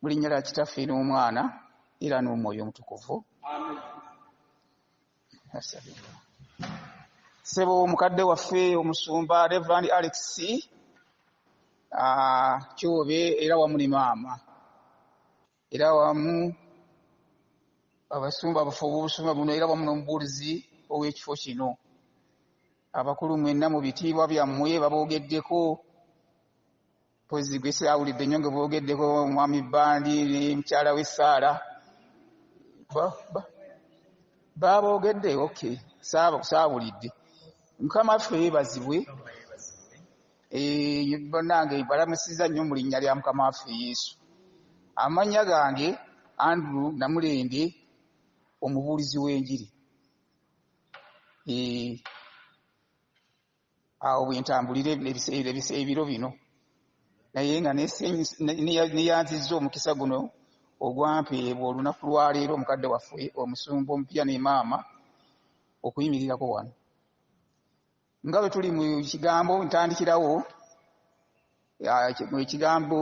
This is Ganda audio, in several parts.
mu linnya lya kitaffe n'omwana era n'omwoyo omutukuvu sebo mukadde waffe omusumba reverand alex ah, kyobe era wamu ne maama era wamu abasumba abafu obubusumba buno era wamu n'omubuulizi ow'ekifo kino abakulu mwenna mu bitiibwa byammwe baboogeddeko mpozi gwe sirawulidde nnyo nga boogeddeko omwami bandi ne mukyala we saala baaboogedde ok saawulidde mukama ffe yeebazibwe eh, banange balamusiza nnyo mu linnya lya mukama waffe yesu amannya gange andrew namulende omubuulizi w'enjiri eh, awo bwentambulira ebiro bino naye nga neyanzizza omukisa guno ogwampeebwa olunaku lwaleero omukadde waffe omusumba omupya ne maama okuyimirirako wano nga bwe tuli mu kigambo ntandikirawo ekigambo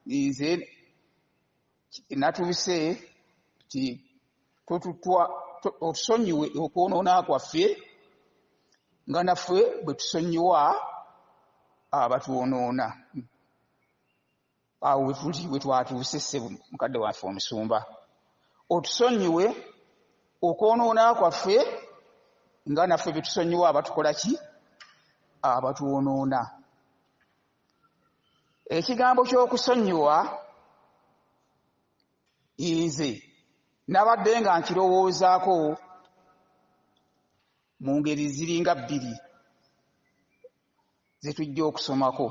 nze natuuse ti totutwa otusonyiwe okwonoona kwaffe nga naffe bwe tusonyiwa abatwonoona awo wetuli wetwatuuse ssebo mukadde waffe omusumba otusonyiwe okwonoona kwaffe nga naffe bye tusonyiwa abatukola ki abatwonoona ekigambo ky'okusonyiwa nze nabadde nga nkirowoozaako mu ngeri ziringa bbiri ze tujja okusomako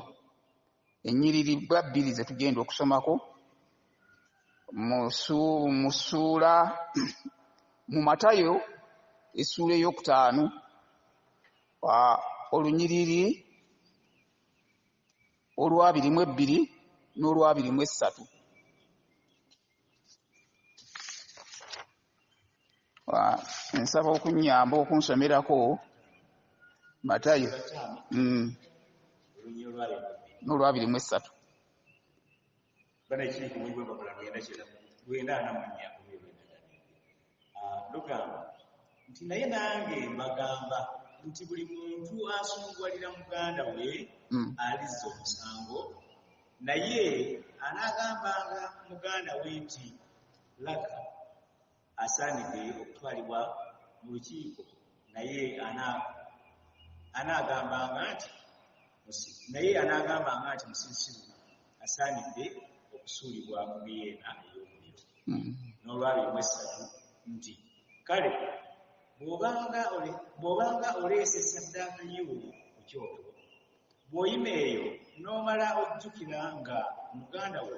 ennyiriri bwa bbiri ze tugenda okusomako mu ssuula mu matayo essuula ey'okutaano olunyiriri olwabiri mu ebbiri n'olwabiri mu essatu nsaba okunyamba okunsomerako matayo mm. n'olwabiri mu essatu bana ekiri ku mulimu bamala lwenda kyenda lwenda ana mu nnya ku ebyo byendagane ah, lugamba nti naye nange mbagamba nti buli muntu asunguwalira muganda we hmm. alizza omusango naye anaagambanga muganda we nti laga asaanidde okutwalibwa mu lukiiko naye anaagambanga nti naye anaagambanga nti musirusiru asaanidde okusuulibwa mu biyeena ey'omuliro hmm. n'olwabiri mu essatu nti kale bw'obanga oleese saddaaka yo ku kyoto bw'oyima eyo n'omala ojjukira nga muganda wo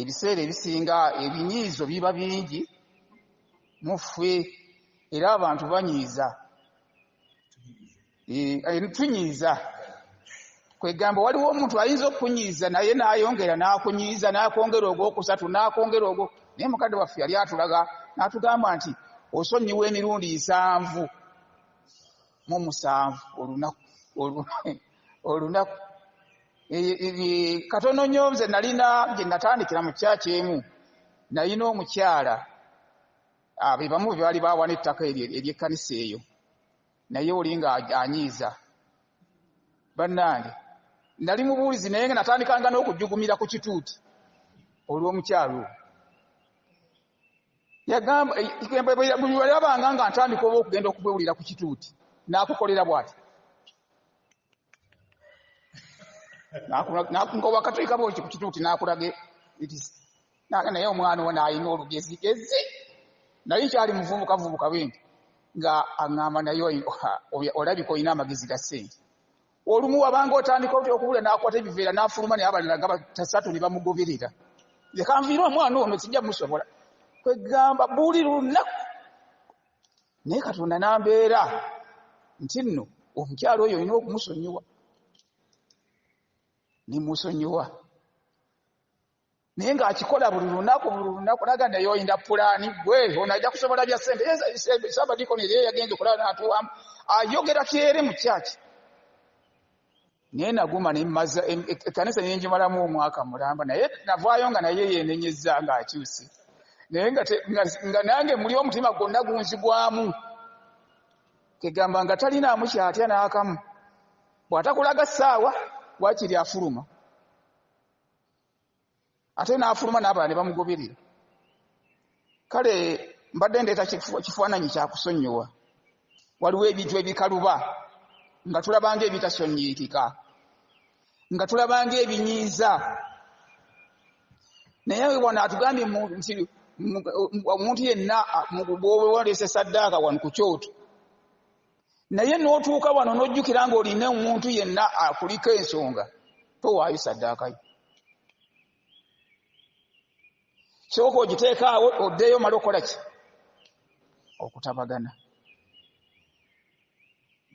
Ebiseera ebisinga ebinyiizo biba bingi mu ffe era abantu banyiiza eh, tunyiiza kwegamba waliwo omuntu ayinza okunyiiza naye nayongera nakunyiiza nakwongera ogwokusatu nakwongera ogwo naye mukadde waffe yali atulaga natugamba nti osonyiwa emirundi nsanvu mu musanvu olunaku olunaku katono nyo nze nalina gye natandikira mu kyaki emu nalina omukyala ah, be bamu bebaali bawana ettaka eryekkanisa eyo naye oli nga anyiiza bannange nali mubuulizi naye nga natandikanga n'okujugumira ku kituuti olw'omukyalo yagambabweyalabanga nga ntandika oba okugenda okubwewulira ku kituuti nakukolera bwati wakatuika bwoti ku kituuti nakulage nange naye omwana owo nalina olugezigezi naye kyali muvubuka vubuka bwenti nga aŋamba naye olabika olina amagezi ga sente Olumu wabanga otandika otya okubula n'akwata ebiveera n'afuluma naye abalala gaba tasatu ne bamugoberera. Leka nviire omwana ono sijja musobola. Kwe gamba buli lunaku naye Katonda n'ambeera nti nno omukyala oyo olina okumusonyiwa ne musonyiwa. naye ng'akikola buli lunaku buli lunaku naga naye oyinda pulaani gwe ono ajja kusobola bya sente sabadikoni ye yagenze okulaba natuwamu ayogera kyere mu kyaki naye naguma nemaza ekkanisa nenjimalamu omwaka mulamba naye navaayo nga naye yenenyezza ng'akyuse naye nga nange muli omutima gwonna gunzigwamu kegamba nga talinaamu kyatya n'akamu bw'atakulaga ssaawa wakiri afuluma ate n'afuluma n'abalala ne bamugoberera kale mbadde ndeeta kifaananyi kyakusonyiwa waliwo ebintu ebikaluba nga tulabanga ebitasonyiikika nga tulabanga ebinyiiza naye wano atugambye nti omuntu yenna bwewaleese saddaaka wano ku kyoto naye n'otuuka wano n'ojjukira nga olina omuntu yenna akuliko ensonga towaayo saddaakayo sooka ogiteekaawo oddeeyo omala okukola ki okutabagana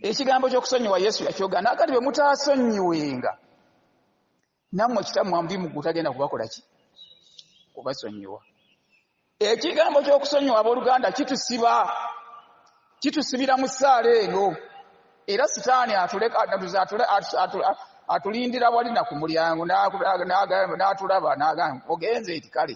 ekigambo ky'okusonyiwa yesu yakyogana kati bwe mutaasonyiwenga namwe kitammwe amubi muggulu tagenda kubakola ki kubasonyiwa ekigambo ky'okusonyiwa abooluganda kitusiba kitusibira mu ssaala eno era sitaani atulindira wali na ku mulyango n'atulaba n'agamba ogenze eti kale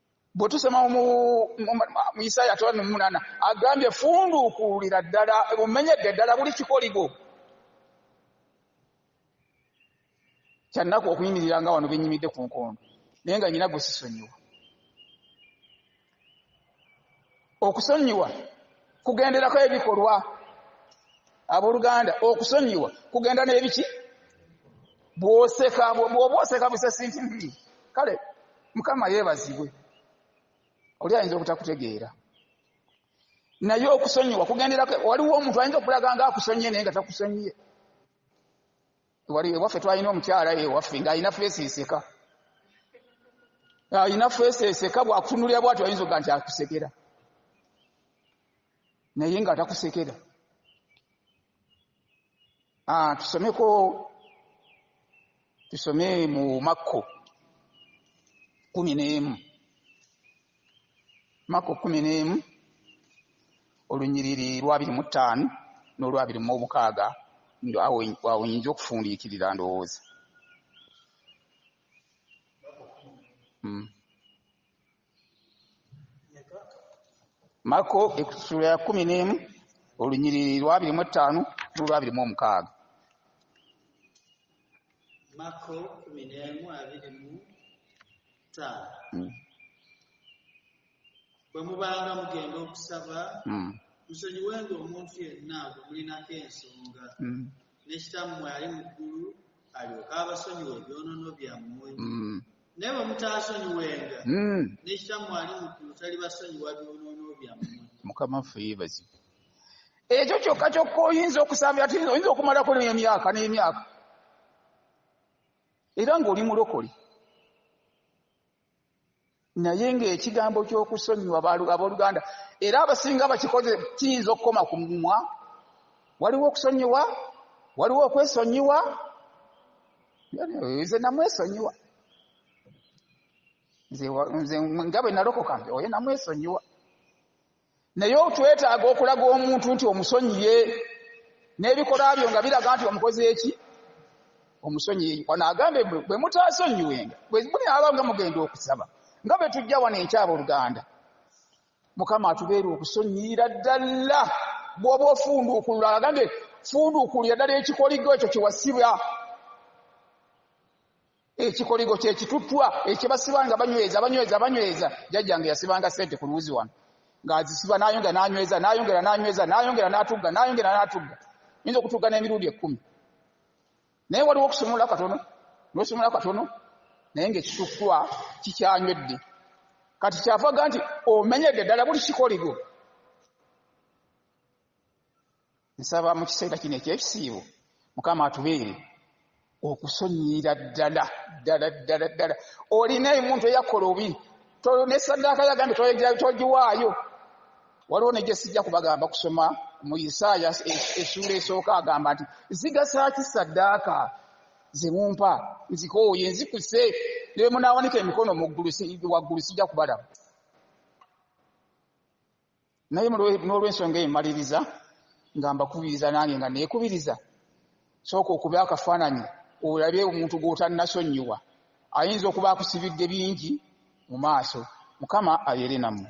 bwe tusoma mu isaaya atola nomunana agambye funduukuulira ddala bumenyedde ddala buli kikoligo kyannaku okuyimirira nga wano benyimidde ku nkondo naye nga nyina gwesisonyiwa Okusonyiwa kugenderako ebikolwa aboluganda okusonyiwa kugenda n'ebiki bwoseka bwoba oseka busesinti nti kale mukama yeebazibwe oli ayinza obutakutegeera naye okusonyiwa kugenderako waliwo omuntu ayinza okulaga nga akusonyiye naye nga takusonyiye wali ewaffe twalina omukyala ewaffe ng'alina feesi eseka alina feesi eseka bwakutunulira bwati ayinza oga nti akusekera naye nga atakusekera ah, tusomeko tusome mu makko kumi n'emu Maka kkumi n'emu, olunyiriri lw'abiri mu ttaano n'olw'abiri mu omukaaga, ndo awo awo nyinza okufundiikirira ndowooza. Mm. Mako ekisula ya kkumi n'emu olunyiriri lw'abiri mu ettaano n'olw'abiri mu omukaaga. Mako kkumi n'emu abiri mu taala hmm. bwe mubanga mugenda okusaba hmm. musonyiwenga omuntu yenna gwe mulinako ensonga hmm. nekitammwe ali mu ggulu alyoke abasonyiwa ebyonono byammwe naye bwe mutaasonyiwenga nekitammwe ali mu ggulu talibasonyiwa byonono byammwe mukama ffe yebazi ekyo kyokka kyokka oyinza okusambira ti oyinza okumalako nemyaka n'emyaka era ng'oli mulokole naye ng'ekigambo ky'okusonyiwa abooluganda era abasinga bakikoze kiyinza okukoma ku mumwa waliwo okusonyiwa waliwo okwesonyiwa nze namwesonyiwa nze nga bwe nalokoka oyo namwesonyiwa Naye twetaaga okulaga omuntu nti omusonyiye n'ebikolwa byo nga biraga nti omukoze eki omusonyiye. Wano agambye bwe mutaasonyiwenga bwe munaaba nga mugenda okusaba nga bwe tujja wano enkya abooluganda. Mukama atubeere okusonyiyira ddala bw'oba ofunduukulula. Agambye funduukulira ddala ekikoligo ekyo kye wasiba. ekikoligo kyekituttwa ekyebasiba nga banyweza banyweza banyweza jajjange yasibanga sente ku luwuzi wano ng'azisiba n'ayongera n'anyweza n'ayongera n'anyweza n'ayongera n'atugga n'ayongera n'atugga yinza okutugga n'emirundi ekkumi naye waliwo okusumula katono n'osumula katono naye ng'ekituttwa kikyanywedde kati kyavaga nti omenyedde ddala buli kikoligo Nsaba mu kiseera kino eky'ekisiibo Mukama atubeere okusonyiyira ddala ddala ddala ddala. Olina omuntu eyakola obi ne saddaaka yagambye togiwaayo. Waliwo ne gye sijja kubagamba kusoma mu Isaaya essuula esooka agamba nti zigasa ki saddaaka ze mumpa nzikooye nzikuse ne bwe munaawanika emikono waggulu sijja kubalaba. naye n'olwensonga eyo maliriza nga mbakubiriza nange nga neekubiriza sooka okube akafaananyi olabe omuntu gw'otannasonnyiwa ayinza okuba akusibidde bingi mu maaso mukama abeere nammwe